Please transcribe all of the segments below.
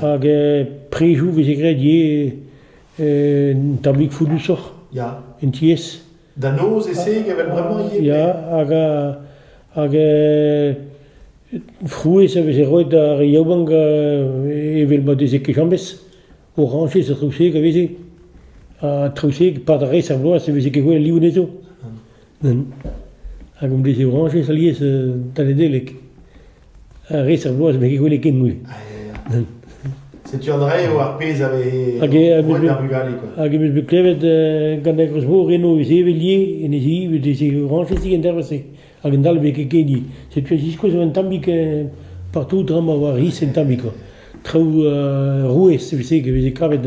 Hag prizoù 'veze graet ivez un tammig founnusoc'h. Ya. En tiez. Da noz e seg evel bremañ ivez. Ya, hag hag frouezh a veze roet d'ar yaouank evel ma deze kechañbez. Orañjez ha traouseg a veze. Ha traouseg, 'pad res a vloaz e veze ket gwelet liv anezho. Ben, hag hon blije orañjez alies da Nedeleg. Ha res ar bloaz, met ket gwele ken mui. Setu an rev ar pezh a vez roet d'ar bugale. Hag em eus bet klevet gant ar groz-mor eno e zevelie, en e zi, e zi orañjez en dervez-se. Hag an dalve ket ken Setu ez iskoaz un tammik partout tra ma oa ris en tammik. Traoù rouez, evel-se, e veze kavet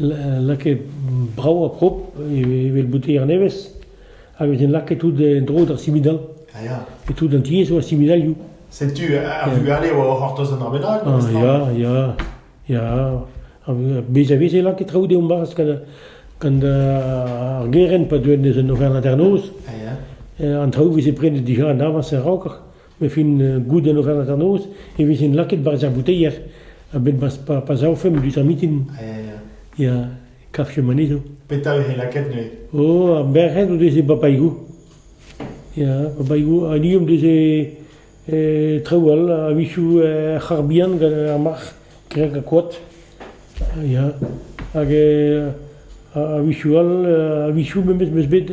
lakaet brav ha prop evel bouteilher nevez hag en em lakaet tout en-dro d'ar simidal. Ah ya. E tout an tiez war simidalioù. Setu ar vugale a oa o c'hortoz an ar bennak. Ah ya, ya, ya. Bez a vez e lakaet traoù deomp bazh gant ar gerent pa deuent eus an Auvergne-Hanternoz. Ah ya. An traoù veze prenet dija en avans en raokr. E fin goudenn o hanternoz e vezent lakaet barzh ar bouteier a-benn pa savfemp diouzh ar mitin. Ya, kavfemp anezho. Petra e c'he lakaet neuze? Oh, ar merc'hed o deus e bapaigou. Ya, bapaigou. Ha ni om deus e traoù all, a-wechoù er c'harr bihan gant ar marc'h, kreg ha koad. Ya, hag a-wechoù all, a-wechoù memes meus bet